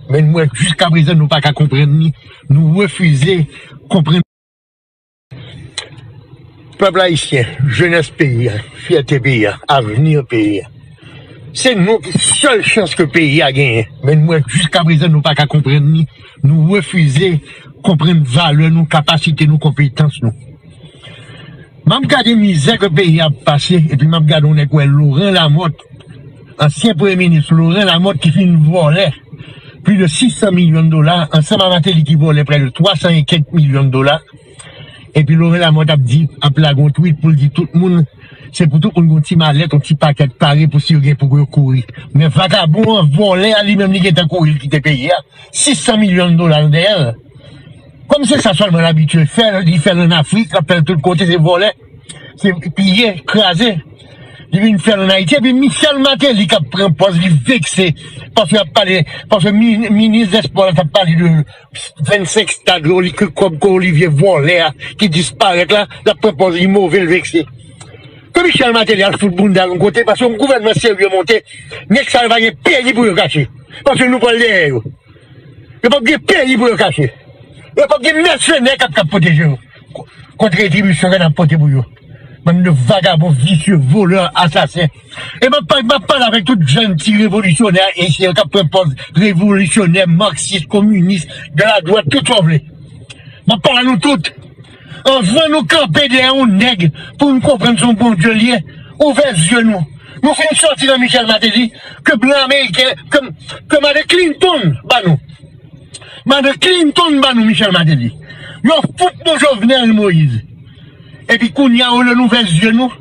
Men nou wè jiska prezan nou pa ka konprann ni nou refize konprann. Pèp ayisyen, jenès peyi a, fyète peyi a, avni peyi a, se nou ki sèl chans ke peyi a genyen. Men nou wè jiska prezan nou pa ka konprann ni nou refize konprann valè nou, kapasite nou, konpetans nou. M ap gade mizè ke peyi a ap pase epi m ap gade yon nèg wè Laurent Lamothe. Ansyen premye minis Laurent Lamothe ki fin vòlè plis de 600 milyon dola ansanm a Martelly ki vòlè prè de 300 e kèk milyon dola epi Laurent Lamothe ap di ap lage yon tweet pou l di tout moun se pou tout moun gen yon ti malèt yon ti pakèt pare pou si yo gen pou yo kouri men vakabon an vòlè a li menm li gentan kouri li kite peyi a 600 milyon dola nan dèyè l kòm se sa sèlman l abitye fè li fè l an Afrik l ap fè l tout kote se vòlè. Se piye, kraze. Li vin fèl an Ayiti epi Michel Martelly kap pran pòz li vekse paske lap pale, paske minis dèspò la tap pale de 25 stad ke kòb ke Olivier vòlè a ki disparèt la, lap pran pòz li move l vekse. Ke Michel Martelly al fout bounda l yon kote paske yon gouvènman serye monte, nèg sa yo pa gen peyi pou yo kache. Paske nou pral dèyè yo. Yo pap gen peyi pou yo kache. Yo pap gen mèsenè kap pwoteje yo. Kot retribisyon nap pote pou yo bann de vagabon visye volè asasen e map pale avèk tout jèn ti revolisyonè ayisyen yo kap pran pòz revolisyonè marxis kominis de la dwat tout sa w vle map pale a nou tout anvan nou kanpe dèyè yon nèg pou nou konprann se yon bondye l ye ouvè zye nou nou fin sòti nan michèl mateli ke blan ameriken ke made klintonn ba nou. Mande Clinton ban nou Michel Martelly. Yo fout nou Jovenel Moïse. Epi kounya olye nou vè zye nou,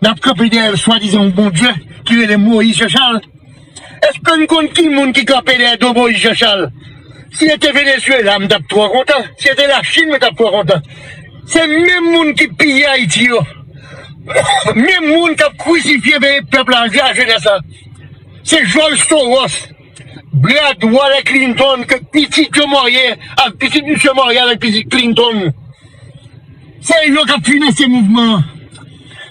nap kanpe dèyè swadizan yon Bondye ki rele Moïse Jean Charles. Eske nou konn ki moun ki kanpe dèyè do Moïse Jean Charles? Si se te Venezuela m tap twò kontan, si se te Lachine mwen tap twò kontan. Se menm moun ki piye Ayiti yo, menm moun kap krisifye veye pèp la, vye a jenès la. Se jòj Soros. Brad wòlè Clinton ke pitit yo mòye avk pitit misye mòye avk pitit Clinton se yo kap finanse mouvman an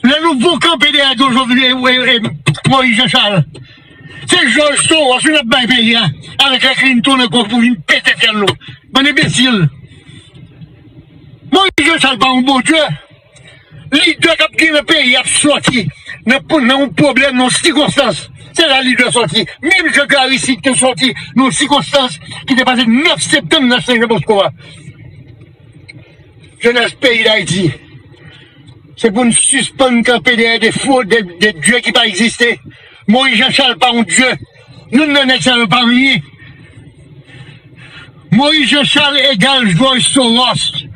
lè nou vou kanpe dèyè Don Jovenel e Moise Jean Charles se George Soros nap bay peyi a avk lè Clinton ankò pou vin pete fyèl nou bann enbesil Moise Jean Charles pa yon bon Dieu. Lidè kap gere peyi ap sòti nan yon pwoblèm, nan yon sikonstans, se la lidè sòti. Menm jan ke Aristide te sòti nan yon sikonstans ki te pase 9 septanm nan Sen Jan Bosko a. Jenès peyi Dayiti, se pou nou sispann kanpe dèyè de fo, de dye ki pa egziste. Moyiz Janchal pa yon dye. Youn nan nèg sa yo pa rien. Moïse Jean Charles egal George Soros.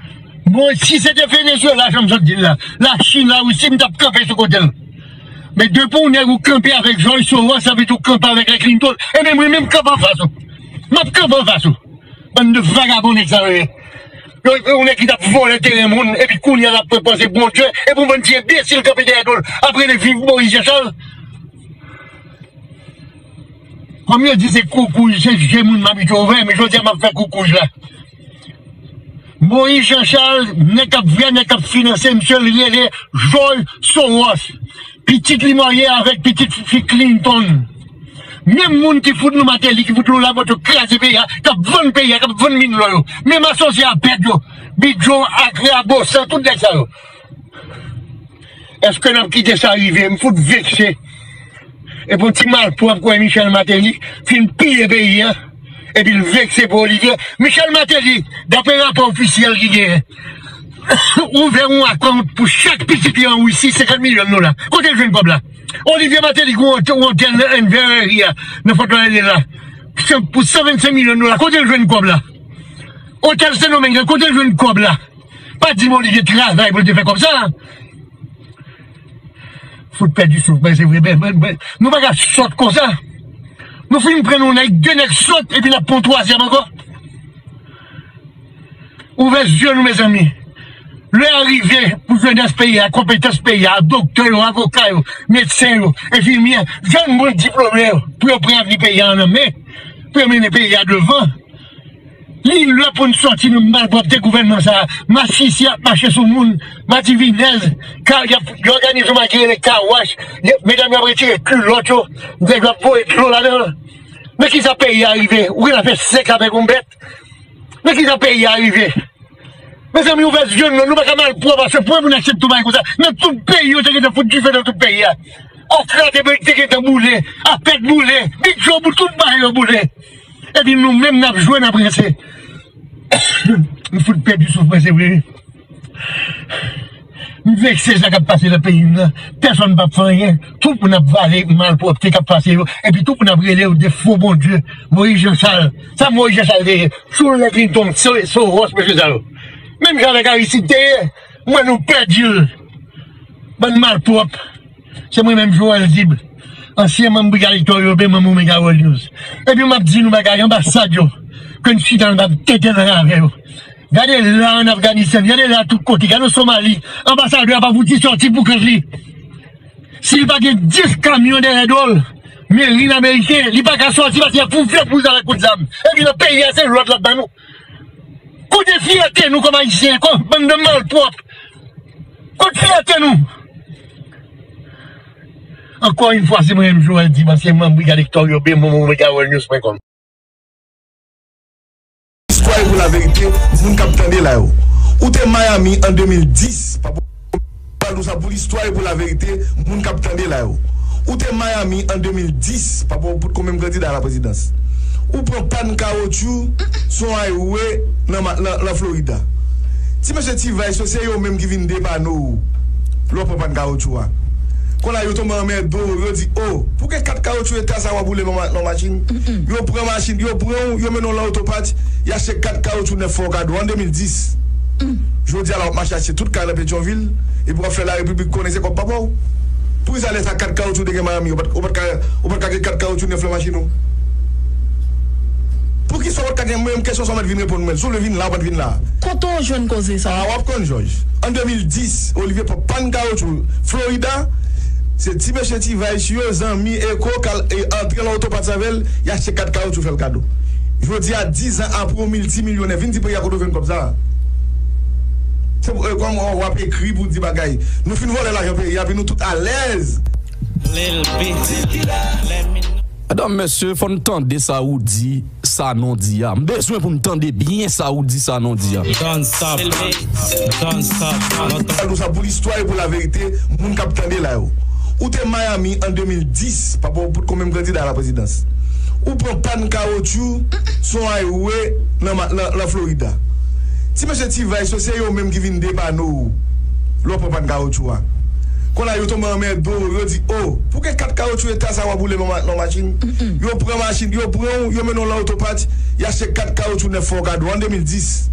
Bon si se te Venezuela janm sot dil la, la chine, la russie m tap kanpe sou kotel. Men depi w nèg ou kanpe avèk George Soros sa vle di ou kanpe avèk la Clinton e men mwen menm m kanpe anfas ou. Map kanpe anfas ou. Bann de vagabon nèg sa yo ye. Yon nèg ki tap vòlè teren moun epi kounya lap pran panse Bondye epi yon bann ti enbesil kanpe dèyè dol ap rele viv Moïse Jean Charles. Kòm yo di se koukouj, se je moun m abitye ouvè, men jodi a m ap fè koukouj la. Moïse Jean Charles, nèg k ap vè, nèg k ap finanse misye, li rele Jòj Sowòs. Pitit li marye avèk pitit fi Klintonn. Menm moun ki fout nou Mateli, ki fout nou Labòt yo kraze peyi a, k ap vann peyi a, k ap vann min lò yo. Menm asosye a Pèp yo, Bidjò, Akra, Bosan, tout nèg sa yo. Eske nap kite sa rive m fout vekse epou ti malpwòp kwè Michel Martelly fin piye peyi an epil vekse pou Olivier Michel Martelly daprè rapò ofisyèl ki genyen ouvè yon akont pou chak pitit li an Russie 50 milyon dola kotel jwenn kòb la Olivier Martelly ki gen yon otèl nan Enverreri a nan fòt lodèdè la pou 125 milyon dola kotel jwenn kòb la otèl sendomeng la kotel jwenn kòb la. Pa di m Olivier t travay pou l te fè kòb sa. Fout pèdi souf mwen se vre men nou pa ka sòt konsa. Nou fin pran yon nèg, 2 nèg sòt epi n ap pran yon twazyèm ankò. Ouvè zye nou mezanmi. Lè a rive pou jenès peyi a, konpetans peyi a, doktè yo, avoka yo, medsen yo, enfimyè, jèn moun diplome yo pou yo pran avni peyi a nan men, pou yo mennen peyi a devan. Li lè pou n sòti nan malpwòpte gouvènman sa a. Masisi ap mache sou moun, madivinèz, kal y ap òganize yon bagay ki rele car wash, medam yo ap retire kilòt yo, nèg yo ap voye dlo ladan l. Men ki sa peyi a rive, ou gen dwa fè sèks avèk yon bèt. Men ki sa peyi a rive. Mezanmi ouvè zye nou, nou pa ka malpwòp a se pwen pou n aksepte yon bagay konsa. Men tout peyi yo te gen tan fout dife nan tout peyi a. Okra te gen tan boule, apèd boule, bidjò boule, tout bagay yo boule. Epi nou menm nap jwe nap rense M fout pèdi souf mwen se vre wi M vekse sa kap pase nan peyi m nan Pèsòn pap fè anyen Tout moun ap vale malpwòpte kap pase yo Epi tout moun ap rele yo de fo bondye Moyiz janchal Sa moyiz janchal te ye Sou lè klinton soros mesye sa yo Menm jan avèk aristid te ye M wè nou pèdi l Bann malpwòp Se mwen menm Joel Zib, ansyen manm Brigad Hector Yope, manm Omega World News. Epi map di nou bagay, anbasad yo, ke n chita nan tab tenten ansanm avè yo. Gade la an Afganistan, gade la tout kote, gade an Somali, anbasadè a pa fouti sòti pou kont li. Si li pa gen 10 kamyon dèyè do l, merin ameriken, li pa ka sòti paske y ap fouflèt pou l sa avèk kout zam. Epi nan peyi a se lòd l ap ban nou. Kote fyète nou kòm ayisyen kon bann de malpwòp kot fyète nou ankò yn fwa se mwen menm Joel Div ansyen manm brigad Hector Urbain pou MediaWorldNews.com. Istwa yo pou laverite moun kap tande la yo ou te miami an 2010 pa pou. Pale nou sa pou listwa e pou laverite moun kap tande la yo. Ou te Miami an 2010 papa ou pot ko menm kandida a la prezidans. Ou pran pann kawotchou sou yon highway nan Florida. Ti mesye ti vice yo se yo menm ki vin depane w lè w pran pann kawotchou a. Konn a yo tonbe anmède w yo di oh pou gen 4 kawotchou eta sa wap woule nan yon machin. Yo pran machin yo pran w yo mennen w lan otopatch y achte 4 kawotchou nèf fè w kado an 2010. Jodi a la. Wap mache achte tout kay nan petyonvil epi wap fè la repiblik konnen se kòb papaw poukisa lè sa 4 kawoutchou te gen miami ou pat ou patka ou patka gen 4 kawoutchou 9 lan machin ou poukisa ou patka gen menm kesyon sa ou mèt vin reponn mwen sou vle vin la ou mèt vin la. Kote w jwenn koze sa? Ah wap konn jòj an 2010 olivye pran pann kawoutchou florida se ti mesye ti vice yo zanmi eko k al antre lan oto pat savel y achte 4 kawoutchou fèl kado jodi a 10 an apre ou miltimilyonè vin di peyi a kote w jwenn kòb sa Se pou kòm ou wap ekri pou di bagay. Nou fin vòlè lajan peyi a pi nou tout alèz. Lil B di let me know. Medam mesye fò n tande sa Roody sanon di a m bezwen pou m tande byen sa Roody sanon di a. Don't stop Don't stop Don't stop. Al pou sa pou listwa e pou la verite moun kap tande la yo ou te Miami an 2010 papa w pot konbyen kandida a la prezidans ou pran pann kawotchou sou on highway. nan Florida. Ti mesye T-Vice yo se yo menm ki vin depanne w lè w pran pàn kawotchou a. Konn a yo tonbe anmède w, yo di, O, pou gen kat kawotchou eta sa w ap woule nan nan machin? Yo pran machin, yo pran w, yo mennen w lan otopart, y achte kat kawotchou nèf fè w kado an 2010.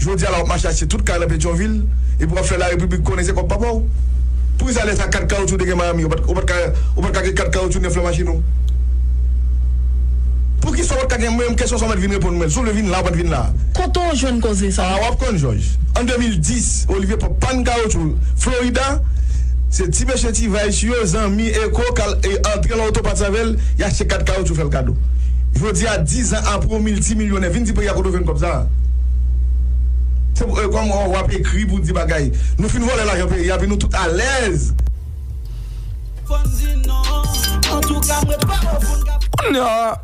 Jodi a la w ap mache achte tout kay nan Petyonvil epi w ap fè Larepiblik konnen se kòb papa w. Poukisa lè sa kat kawotchou te gen Miami ou pat ou pat ka ou pat ka gen kat kawotchou nèf lan machin ou? Poukisa ou pat ka gen Yon kesyon sa w mèt vin reponn mwen l. Si w vle vin la, w mèt vin la. Kote w jwenn koze sa? A, w ap konn, Jòj. An 2010, Olivier pran pàn kawotchou Florida. Se ti mesye ti Vice yo, zanmi Eko, k al antre lan oto pati avè l. Y achte kat kawotchou fè l kado. Jodi a, dizan apre, w miltimilyonè. Vin di peyi a kote w jwenn kòb sa a. Se pou, kòm w ap ekri pou w di bagay. Nou fin vòlè lajan peyi a, epi nou tout alèz. Fò n di non. Antouka, m ret pa w pou n ka. Kounye a.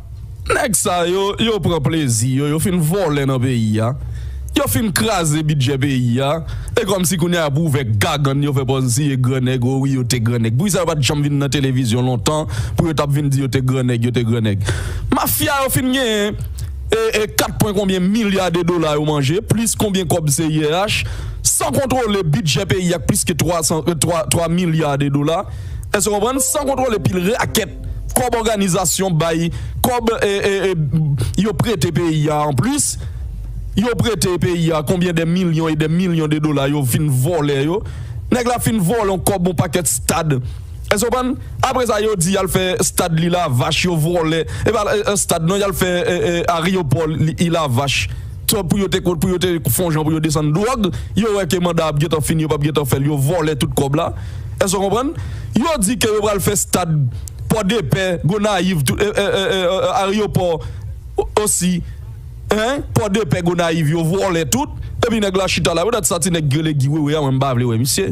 Nèg sa yo, yo pran plezi yo, yo fin vòlè nan peyi a, yo fin kraze bidjè peyi a, e kòm si kounye a pou ouvè gagann yo fè pòz si ye gran nèg, o wi yo te gran nèg. Poukisa yo pa t janm vin nan televizyon lontan pou yo t ap vin di yo te gran nèg, yo te gran nèg. Mafya yo fin genyen e e 4 pwen konbyen milya de dola yo manje, plis konbyen kòb CIRH, san kontwole bidjè peyi a k plis ke 3 san 3 3 milya de dola, èske w konprann, san kontwole pil rakèt. kòb òganizasyon bay kòb yo prete peyi a anplis yo prete peyi a konbyen de milyon e de milyon de dola yo vin vòlè yo nèg la fin vòlè yon kòb yon pakèt stad èske ou konprann apre sa yo di yal fè stad li lavach yo vòlè e pa stad non yal fè aryopò li lavach. Twòp pou yo te kont pou yo te fon jan pou yo desann dwòg, yo wè ke manda ap gentan fini yo pap gentan fèl yo vòlè tout kòb la, èske w konprann? Yo di ke yo pral fè stad pòdepè, gonayiv tout aryopò osi hein pòdepè gonayiv yo vòlè tout epi nèg la chita la pou dat sa ti nèg k rele Guy wewe a mwen m pa vle wè misye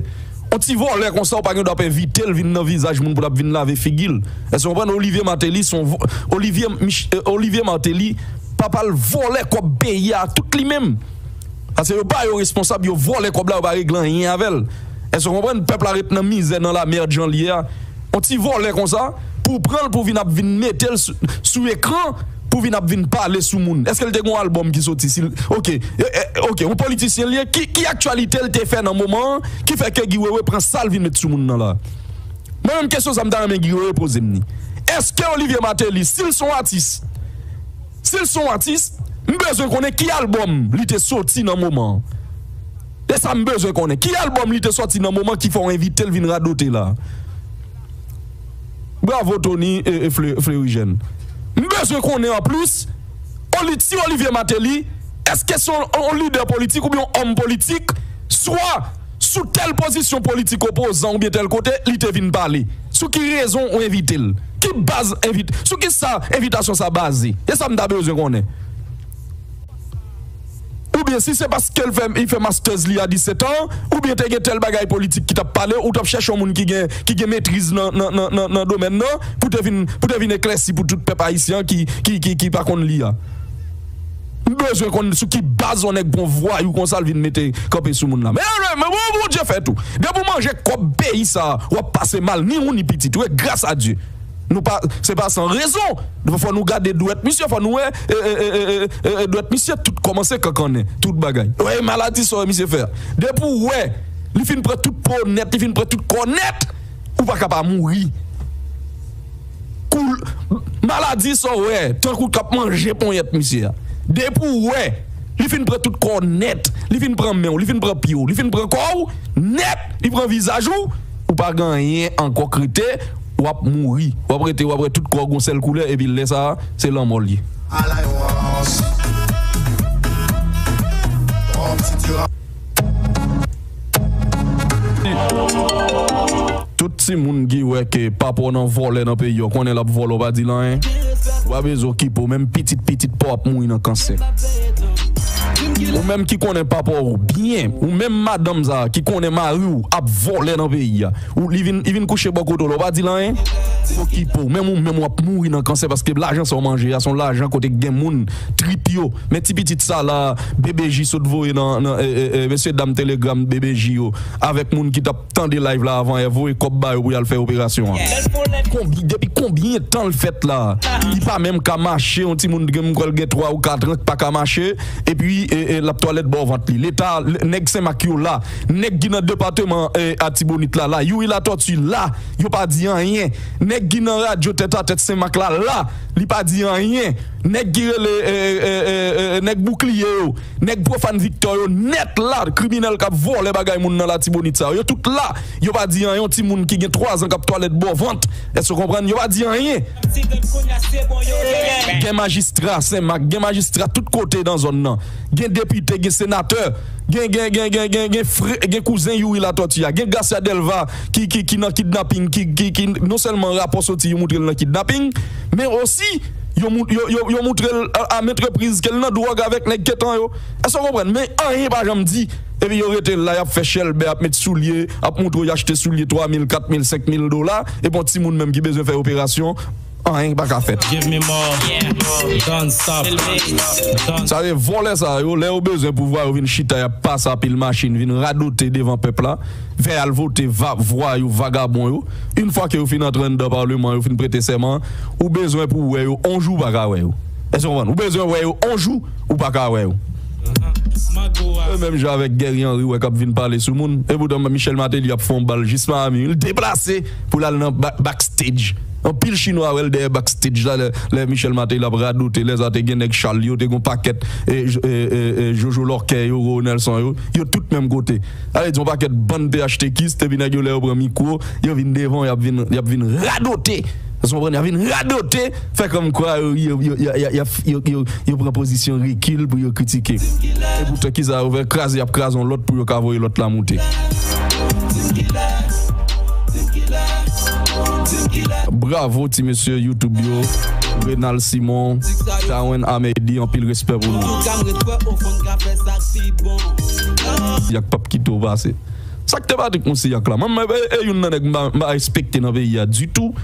on ti vòlè konsa ou pa gen dwa ap envitel vin nan vizaj moun pou lap vin lave figil èske w konprann Olivier Martelly son Olivier Martelly Papal vòlè kòb peyi a tout li menm Pase yo pa yo responsab yo vòlè kòb la yo pa regle anyen avèl Èske ou konprann pèp la ret nan mizè nan la merd jan liye a On ti vòlè konsa pouw pranl pou vin ap vin metel sou ekran pou vin ap vin pale sou moun Èske l te gen yon album ki soti sil ok ok yon politisyen liye ki aktyalite l te fè nan moman an ki fè ke Guy Wewe pran sal vin met sou moun nan la Mwen menm kesyon sa m ta renmen Guy Wewe pozem ni Èske Olivier Martelly sil son atis Sil son atis m bezwen konnen ki album li te soti nan moman an se sa m bezwen konnen ki album li te soti nan moman ki fè w envitel vin radote la Bravo Tony Fleuryjeune m bezwen konnen anplis Oli ti Olivier Martelly eske son lidè politik oubyen yon òm politik swa Sou tèl pozisyon politik opozan oubyen tèl kote li te vin pale? Sou ki rezon ou envite l? Ki baz envit Sou ki sa envitasyon sa baze? Se sa m ta bezwen konnen. Oubyen si se paske l fè li fè masters li a 17 an oubyen te gen tèl bagay politik ki t ap pale ou t ap chèche yon moun ki gen ki gen metriz nan nan nan nan nan domèn nan pou te vin pou te vin eklèsi pou tout pèp ayisyen an ki ki ki pa konn li a. M bezwen konn sou ki baz yon nèg gon vwayou konsa l vin mete kanpe sou moun la men bon Bondye fè tou depi w manje kòb peyi sa wap pase mal ni ou ni pitit ou e gras a Dye nou pa se pa san rezon fò nou gade dwèt misye fò nou wè dwèt misye tout kòmanse kankannen tout bagay e maladi sa misye fè a depi w wè li fin pran tout po nèt li fin pran tout kò nèt ou pa ka pa mouri. Koul maladi sa w wè tankou k ap manje ponyèt misye a. Depi w wè li fin pran tout kò w nèt, li fin pran men w, li fin pran pye w, li fin pran kò w nèt, li pran vizaj ou, ou pa gen anyen ankò k rete, w ap mouri. W ap rete w ap wè tout kò w gon sèl koulè epi lè sa a se lanmò l ye. Ala yon rans! Pran yon ti ti rans! Tout ti moun ki wè ke papa w nan vòlè nan peyi an konnen lap vòlè w pa di l anyen ou pa bezwen okipe w menm pitit pitit paw ap mouri nan kansè ou menm ki konnen papa w byen ou menm madanm sa ki konnen mari w ap vòlè nan peyi a Ou li vin li vin kouche bò kote w la ou pa di l anyen? Pokipo w menm ou menm wap mouri nan kansè paske lajan sa w manje a se yon lajan kote k gen moun trip yo men ti pitit sa la BBJ sot voye nan nan mesye dam telegram BBJ yo avèk moun ki tap tande live la avan yè voye kòb ba yo pou yal fè operasyon an. Konbyn depi konbyen tan l fèt la li pa menm ka mache yon ti moun m kwè l gen 3 ou 4 an k paka mache epi lap twalèt bò vant li leta nèg senmak yo la Nèg ki nan depateman atibonit la la youri latòti la yo pa di anyen nèg ki nan radyo tèt a tèt senmak la la li pa di anyen nèg ki rele nèg boukliye yo nèg profàn viktò yo nèt la kriminèl kap vòlè bagay moun nan latibonit sa yo tout la yo pa di anyen yon ti moun ki gen 3 zan kap twalèt bò vant èske ou konprann yo pa di anyen. Gen majistra senmak gen majistra tout kote nan zòn nan gen depite gen senatè. Gen gen gen gen gen gen frè gen kouzen youri latòti a gen gracia delva ki ki ki nan kidnaping ki ki ki non sèlman rapò soti yo moutrel nan kidnaping men osi yo mou yo yo yo moutrel a a ment repriz kel nan dwòg avèk nèg ketan yo èske w konprann men anyen pa janm di epi yo rete la yap fè chèlbè ap met soulye ap moutre w yo achte soulye 3 mil 4 mil 5 mil dola epi yon timoun menm ki bezwen fè operasyon Anyen ki pa ka fèt. Give me more, don't stop, don't. Sa se vòlè sa yo lè yo bezwen pouvwa yo vin chita yap pase apil machin vin radote devan pèp la fè al vote vwayou vagabon yo yn fwa ke yo fin antre anndan parleman yo fin prete sèman ou bezwen pou wè yo on jou ou paka wè yo èske ou konprann ou bezwen wè yo on jou ou paka wè yo se menm jan avèk Guerry Henry wè kap vin pale sou moun epoutan Michel Martelly ap fon bal jis Miami li deplase poul al nan back stage Anpil chinwa wèl dèyè back stage la lè Michel Martelly ap radote lèsa te gen nèg Charles yo te gon pakèt Jojo Lorquet yo Roro Nelson yo yo tout menm kote sa vle di yon pakèt bann phtkis epi nèg yo lè yo pran mikwo yo vin devan yap vin yap vin radote èskonprann yap vin radote fè kòmkwa yo yap fè yo pran pozisyon rekil pou yo kritike. Epoutan kisa yo fè? Kraze yap kraze yon lòt pou yo ka voye lòt la moute. Bravo ti mesye YouTube yo Renald Simon Darwin Amédi anpil respè pou nou Yak pap kite w pase Sak te Patrick Moussayac la Mwen mwen e youn nan nèg m pa respekte nan peyi a ditou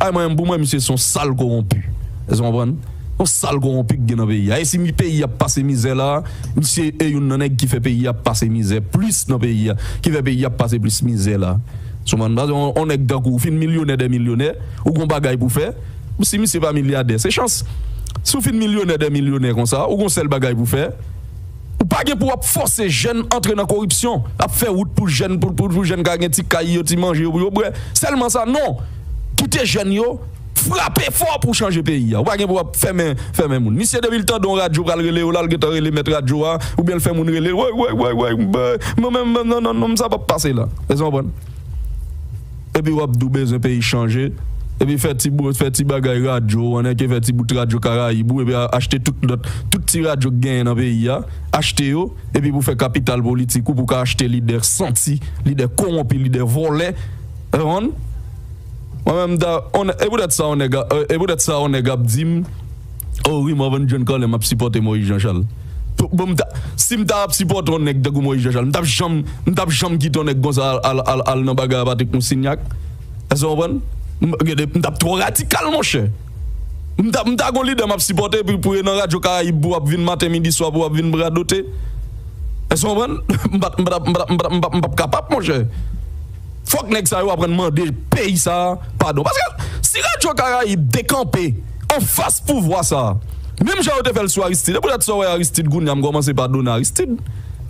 Ay mwen pou mwen misye son sal koronpi eske konprann yon sal koronpi ki gen nan peyi a e si peyi ap pase mizè la misye e youn nan nèg ki fè peyi ap pase mizè plis nan peyi a ki fè peyi ap pase plis mizè la sou konprann paske yon nèg tankou ou fin milyonè dè milyonè ou gon bagay pou fè si misye pa milyadè se chans si w fin milyonè dè milyonè konsa ou gon sèl bagay pou fè. Ou pa gen pou ap fòse jèn antre nan koripsyon, ap fè wout pou jèn pou pou jèn ka gen ti kay yo, ti manje yo pou yo bwè. Sèlman sa non, kite jèn yo frape fò pou chanje peyi a. Ou pa gen pou ap fèmen fèmen moun. Misye depi l tande yon radyo pral rele yo la, l gentan rele mèt radyo a oubyen l fè moun rele l woy woy woy woy m bè m nan nan nan nan sa p ap pase la. Èske w konprann? Epi wap di w bezwen peyi chanje, epi fè ti bout, fè ti bagay radyo w an èke fè ti bout radyo karayib ou epi achte tout lòt, tout ti radyo k genyen nan peyi a, achte yo epi pou fè kapital politik ou pou ka achte lidè santi, lidè kowonpi, lidè vòlè. Reponn? Mwen menm m ta on e poutèt sa on nèg a e poutèt sa on nèg ap di m, oh wi Morvan John Colem ap sipòte Moyiz Janchal. Si m ta ap sipòte yon nèg tankou Moyiz Jachan, m t ap janm m t ap janm kite yon nèg konsa al al al nan bagay a Patrik Moustinyak. Èske w konprann? M gen de m t ap twò radikal monchè. M ta m ta gon lidè m ap sipòte epi pou e nan radyo karayib pou ap vin maten midi swa pou ap vin m radote. Èske w konprann? M pa t m pa t ap m pa t ap m pa t ap m p ap kapab monchè. Fòk nèg sa yo aprann mande peyi sa a padon. Paske si radyo karayib te kanpe anfas pouvwa sa a menm jan yo te fè l sou Aristid e poutèt sa w wè Aristid kounye a m kòmanse padone Aristid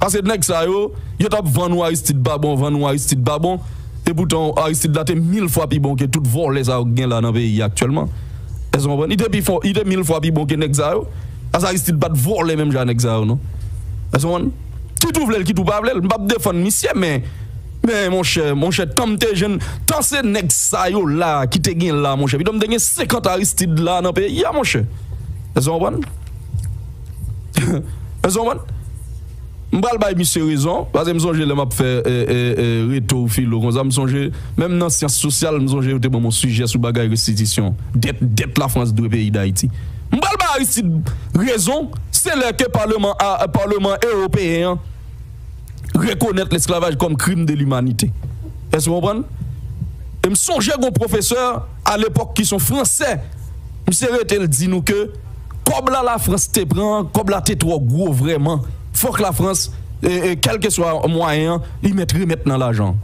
paske nèg sa yo yo t ap vann ou Aristid pa bon vann ou Aristid pa bon epoutan Aristid la te mil fwa pi bon ke tout vòlè sa yo ki gen la nan peyi a aktyèlman èske w konprann li te pi fò li te mil fwa pi bon ke nèg sa yo paske Aristid pa t vòlè menm jan a nèg sa yo non èske w konprann kit ou vle l kit ou pa vle l m p ap defann misye men Men monchè, monchè tanm te jenn, tan se nèg sa yo la ki te gen la monchè, pito m te gen 50 Aristide la nan peyi a monchè. Èske w konprann? Èske w konprann? M pral bay misye rezon, paske m sonje lè m ap fè reto ou filo konsa, m sonje menm nan syans sosyal m sonje yo te ban m yon sijè sou bagay restitisyon dèt, dèt Lafrans dwe peyi Dayiti. M pral bay Aristide rezon, se lè ke paleman a, paleman ewopeyen an. rekonèt lesklavaj kòm krim de limanite. Èske w konprann? E m sonje gon pwofesè a lepòk ki son fransè, misye rete l di nou ke kòb la Lafrans te pran an, kòb la te twò gwo vrèman, fòk Lafrans, kèlkeswa mwayen an, li mèt remèt nan lajan.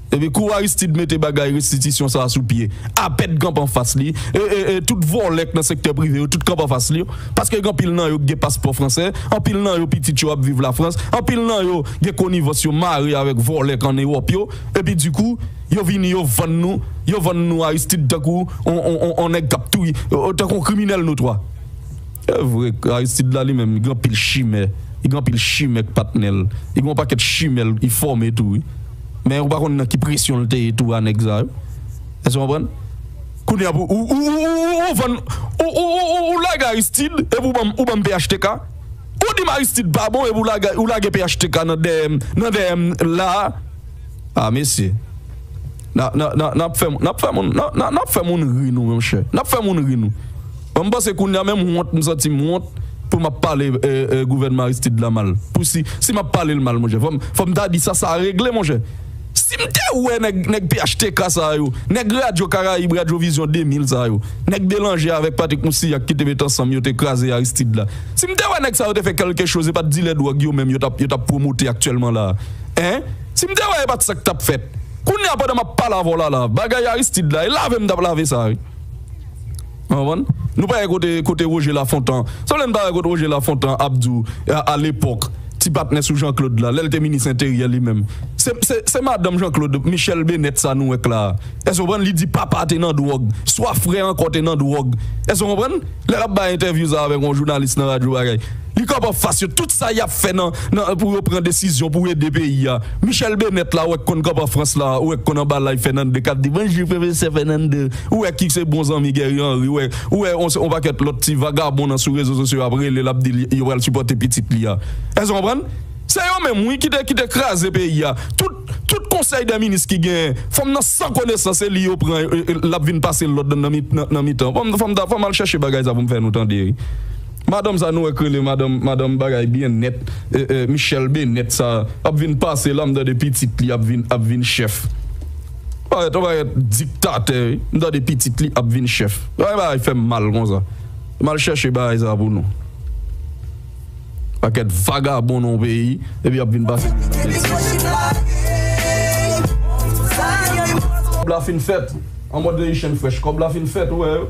Epi kou Aristide mete bagay restitisyon sa sou pye, apèd kanpe anfas li, e tout vòlè k nan sektè prive yo tout kanpe anfas li, paske gen anpil nan yo k gen paspò fransè, anpil nan yo pitit yo ap viv Lafrans, anpil nan yo gen konivans yo mare avèk vòlè k an Ewòp yo, epi di kou yo vini yo vann nou, yo vann nou Aristide tankou on nèg k ap touye, tankou on kriminèl notwa. Se vre k Aristide la li menm li gen anpil chimè, li gen anpil chimè k patnè l, li gen on pakèt chimè l li fòme tou wi. Men ou pa konn nan ki presyon l te ye tou a nèg sa yo. Èske w konprann? Kounye a pou ou ou vann ou lage Aristide epi ou banm ou banm phtk? Ou di m Aristide pa bon epi ou lage phtk nan dèyè m nan dèyè m la a? A mesye n ap fè moun ri nou monchè. N ap fè moun ri nou. Bon m panse kounya menm wont m santi m wont pou map pale gouvènman Aristide la mal pou si si map pale l mal monchè fò m fò m ta di sa sa regle monchè si m te wè nèg nèg phtk sa yo nèg radyo karayib radyo vizyon 2000 sa yo nèg delanje avèk Patrick Moussilhac ki te met ansanm yo te kraze Aristide la si m te wè nèg sa yo te fè kèlke choz e pat dilè dwòg yo menm yo tap yo tap pwomote aktyèlman la a hein si m te wè e pat sa k tap fèt kounya pandan map pale avè w la la bagay Aristide la e lave m tap lave sa wi. Konprann? Nou pa wè kote kote Roger Lafontan sanble m ta wè kote Roger Lafontan ap di w a lepòk ti patnè sou Jean Claude la lè l te minis enteryè li menm se se se madanm Jean Claude Michelle Bennet sa nou wè k la a èske w konprann li di papa te nan dwòg swa frè ankò te nan dwòg èske w konprann lè l ap bay entèvyou sa a avèk yon jounalis nan radyo bagay Li kòb anfas yo tout sa yap fè nan nan pou yo pran desizyon pou ede peyi a Michèl Benèt la ou wè k konn kòb anfrans la ou wè k konn anba lay Fènande kap di bonjou pwofesè Fènande ou wè ki se bon zanmi Guerrier Henry ou wè ou wè on on pakèt lòt ti vagabon nan sou rezo sosyo ap rele l ap di l yo pral sipòte pitit li a èske w konprann se yo menm wi ki te ki te kraze peyi a tout tout konsèy dè minis ki genyen fanm nan san konesans se li yo pran e e lap vin pase lòd nan nan mitan fanm nan fanm ta fanm al chèche bagay sa pou m fè nou tande Madanm sa nou wè k rele madanm madanm bagay byen nèt Michelle Bennet sa ap vin pase la m tande pitit li ap vin ap vin chèf yon parèt yon parèt diktatè wi m tande pitit li ap vin chèf gade bagay fè m mal konsa m al chèche bagay sa pou nou pakèt vagabon nan yon peyi epi ap vin pase moun nan betiz. Kòb la fin fèt anmòd Haitian fresh kòb la fin fèt ou wè yo.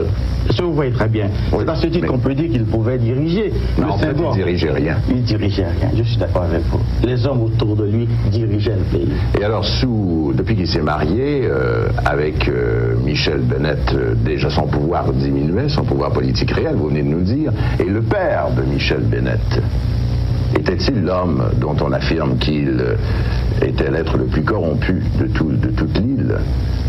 Si w voye trè byen, se a se tit kon pe di ki l pouvè dirije le Sen Dwa. Non, li dirije ryen. Li dirije ryen, je si dakò avèk vou. Lèzòm otou de li dirije l peyi. E alò si w, depi ki se marye avèk Michèl Benèt, deja son pouvwa ap diminye, son pouvwa politik reyèl, vou veni de nou di, e le pè de Michèl Benèt, etè t il lòm dont on afirme ki l etè l ètre le pli kòronpu de tout, de tout l il?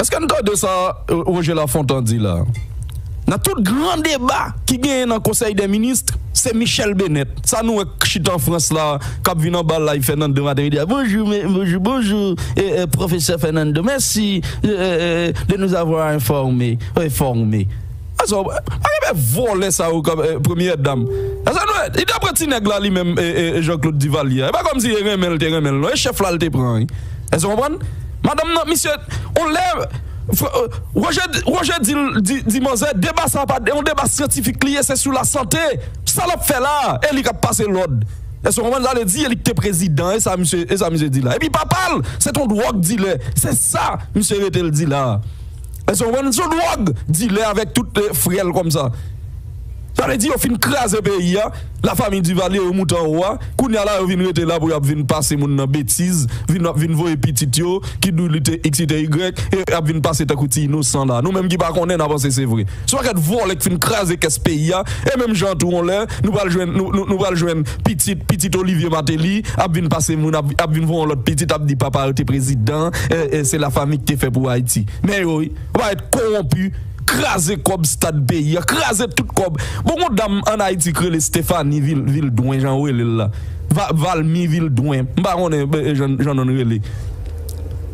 Eske n tande sa Roger Lafontant di la a? Nan tout gran deba ki genyen nan konsèy dè minist, se Michèle Bennet sa nou wè k chita an Frans la a k ap vin anba live Fènando maten midi a, bonjou bonjou bonjou pwofesè Fènando mèsi de nous avoir enfòme enfòme. Asa w pa renmen vòlè sa yo kòm premyè dam. Asa nou li ta pran ti nèg la li menm Jean Claude Duvalier a. E pa kòm si e renmen l te renmen l non e chèf la l te pran wi. Èske w konprann? Madanm nan misye on lè Roger Roger di l di manzè deba sa pa yon deba syantifik li ye se sou lasante. Sa l ap fè la a e li k ap pase lòd. Èske w konprann sa l vle di e li k te prezidan e sa misye e sa misye di la. Epi papa l se t on dwòg dilè se sa misye rete l di la a. Eske w konprann? Li son dwòg dilè avèk tout frè l kòmsa. Sa vle di yo fin kraze peyi a, la famiy Duvalier yo moute anwo a, kounye a la yo vin rete la pou y ap vin pase moun nan betiz, vin ap vin voye pitit yo ki dou li te x, li te y e y ap vin pase tankou ti inosan la. Nou menm ki pa konnen n a panse se vre. Se pa kèt vòlè k fin kraze kès peyi a e menm jan an tou yon lè nou pral jwenn nou pral jwenn pitit pitit Olivier Martelly ap vin pase moun ap vin voye yon lòt pitit ap di papa yo te prezidan se la fami k te fè pou Ayiti men yo wi yo pa rèt kowonpi kraze kòb stad peyi a kraze tout kòb bon gon dam an Ayiti k rele Stéphanie Vildouin jan yo rele l la Valmy Vildouin m pa konnen jan nonn rele.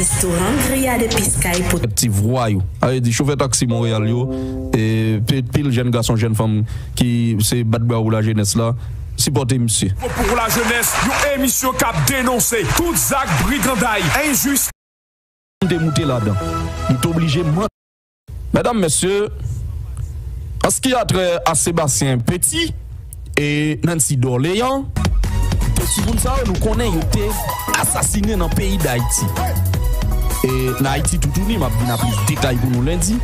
Restoran Grillade et Piscay pou. Kèk ti vwayou. Sa vle di chofè taksi Monreyal yo, e pil jèn gason, jèn fanm ki se bat brawo pou lajenès la, sipòte misye. Pou pou lajenès, yon emisyon k ap denonse tout zak briganday, enjistis. M te moute ladan. M t oblije. Mèdam, Mesye, an ski a trè a Sebastien Petit e Nancy Dorlean, de timoun sa yo nou konnen yo te asasinen nan peyi Dayiti e nan Ayiti toutouni, m ap vin a plis detay pou nou lendi,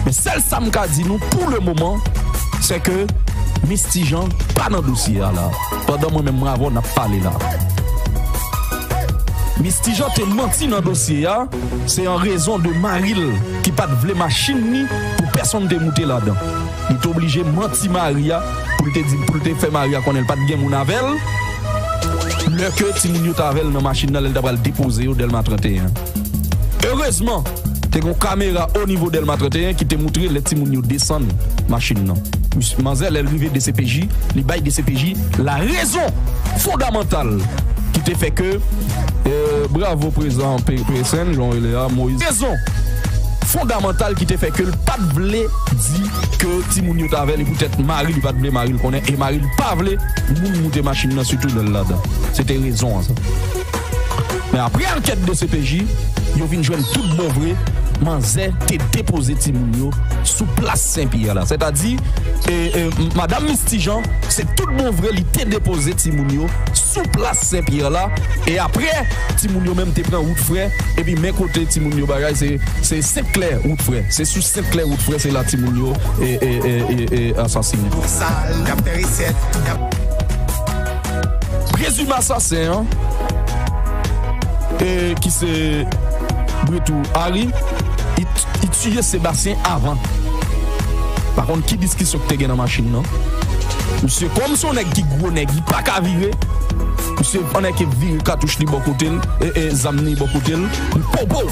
men sèl sa m ka di nou pou le moman, se ke Mis Ti Jan pa nan dosye a la, pandan mwen menm m avè w n ap pale la. Mis Ti Jan te manti nan dosye a. Se an rezon de mari l ki pa t vle machin ni pou pèsonn te moute ladan, li te oblije manti mari a pou l te di pou l te fè mari a konnen l pa t gen moun avè l lè ke timoun yo t avè l nan machin nan lè l ta pral depoze yo Dèlma 31. Erezman, te gen yon kamera onivo Dèlma 31 ki te moutre lè timoun yo desann machin nan. Misye, manzè lè l rive dcpj, li bay dcpj larezon fondamantal ki te fè ke. Bravo prezidan psn jan w rele a moise. Rezon fondamantal ki te fè ke l pa t vle di ke timoun yo t avè l e poutèt mari li pa t vle mari l konnen e mari l pa vle moun moute machin nan sitou lè l ladan. Se te rezon an sa. Men apre ankèt dcpj, yo vin jwenn tout bon vre manzè te depoze timoun yo sou plas Sen Pyè la. Sètadi, Madam Misti Jan, se tout bon vre li te depoze timoun yo. sou plas Sen Pyè la e aprè timoun yo menm te pran wout frè epi men kote timoun yo bagay se se Sent Klè wout frè se sou Sent Klè wout frè se la timoun yo e e e e asasine. Sal yap fè resèt yap. Prezime asasen an e ki se Bretou Ary it. Tiye Sebastien avan. Pa konn ki diskisyon ki te gen nan machin nan. Misye kòm se yon nèg ki gwo nèg li pa ka vire. Misye annik ke vire katouch li bò kote l, ee zam li bò kote l. Li pow pow!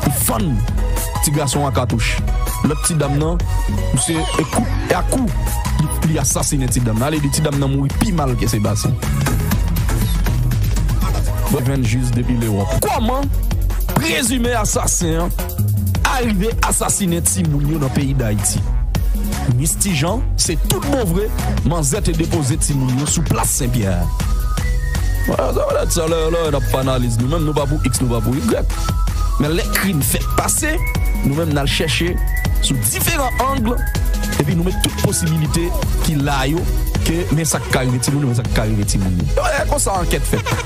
Li fann ti gason an katouch. Lòt ti dam nan, misye e kout e ak kou li asasinen ti dam nan. Ale di ti dam nan mouri pi mal ke Sebastien. Mwen jwenn jis depi Lewòp. Kòman prezime asasen an. Arive asasinen timoun yo nan peyi Dayiti. Mis Ti Jan, se tout bon vre, manzè te depoze timoun yo sou plas Sen Pyè. Mwen sa mwen sa lè lè nap analiz nou menm nou pa pou X nou pa pou Y. Men lè krim fèt pase, nou menm nal chèche sou diferan ang epi nou met tout posibilite ki la yo ke men sak ka rive timoun yo men sak ka rive timoun yo. Lè konsa ankèt fèt.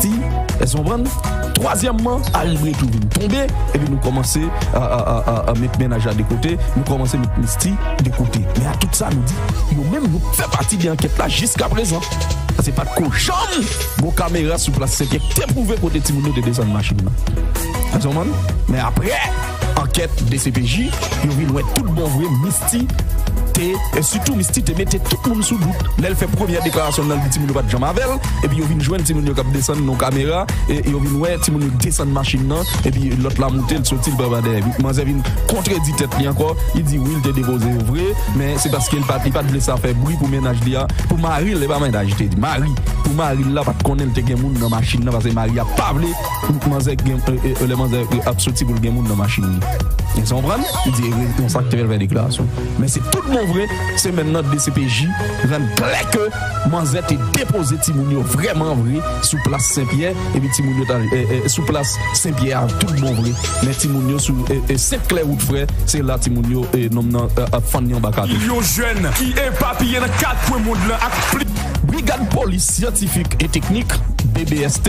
ti, èske nou konprann? Twazyèmman, aribre tou vin tonbe, epi nou kòmanse met mennaj la de kote, nou kòmanse met Misty de kote. Men a tout sa nou di, yo menm yo p fè pati de ankèt la jiskaprezan. Paske pa t ko janm gon kamera sou plas Senkè k te pwouve kote timoun yo te desann machin nan. Èske nou konprann? Men aprè ankèt dcpj, yo vin wè tout bon vre Misty. Ti T e sitou Miss Ti T mete tout moun sou dout lè l fè premyè deklarasyon l nan l di timoun yo pa t janm avè l epi yo vin jwenn timoun yo k ap desann nan kamera e yo vin wè timoun yo desann machin nan epi lòt la moute l soti l pran pa dèyè manzè vin kontredi tèt li ankò li di wi l te depoze yo vre men se paske l pa t vle sa fè bri pou mennaj li a pou mari l e pa mennaj li te di mari pou mari l la pa t konnen l te gen moun nan machin nan paske mari a pa vle Manzè gen, lè manzè ap soti pou l gen moun nan machin li. Èske w konprann? Li di e konsa l te fè l fè deklarasyon. Men se tout bon vre, semèn nan dcpj rann klè ke manzè te depoze timoun yo vrèman vre sou plas Senpyè epi timoun yo t al sou plas Senpyè a tout bon vre. Men timoun yo sou Sent Klè wout frè, se la timoun yo nonm nan ap fann anba katon. Milyon jèn ki epapiye nan kat kwen mond lan ak plis. Brigad Polis Syantifik e Teknik, BBST,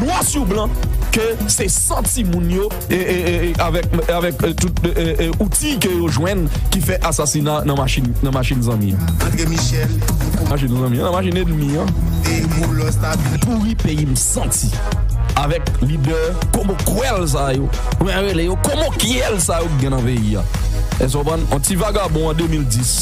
nwa sou blan ke se santi moun yo avèk tout outi ke yo jwenn ki fè asasina nan machin zanmi an. Machin zanmi an, nan machin enmi an. Pouri peyi m santi avèk lidè komokwèl sa yo, mwen rele yo komokyèl sa yo ki gen nan peyi a. Èske w konprann? Yon ti vagabon an 2010.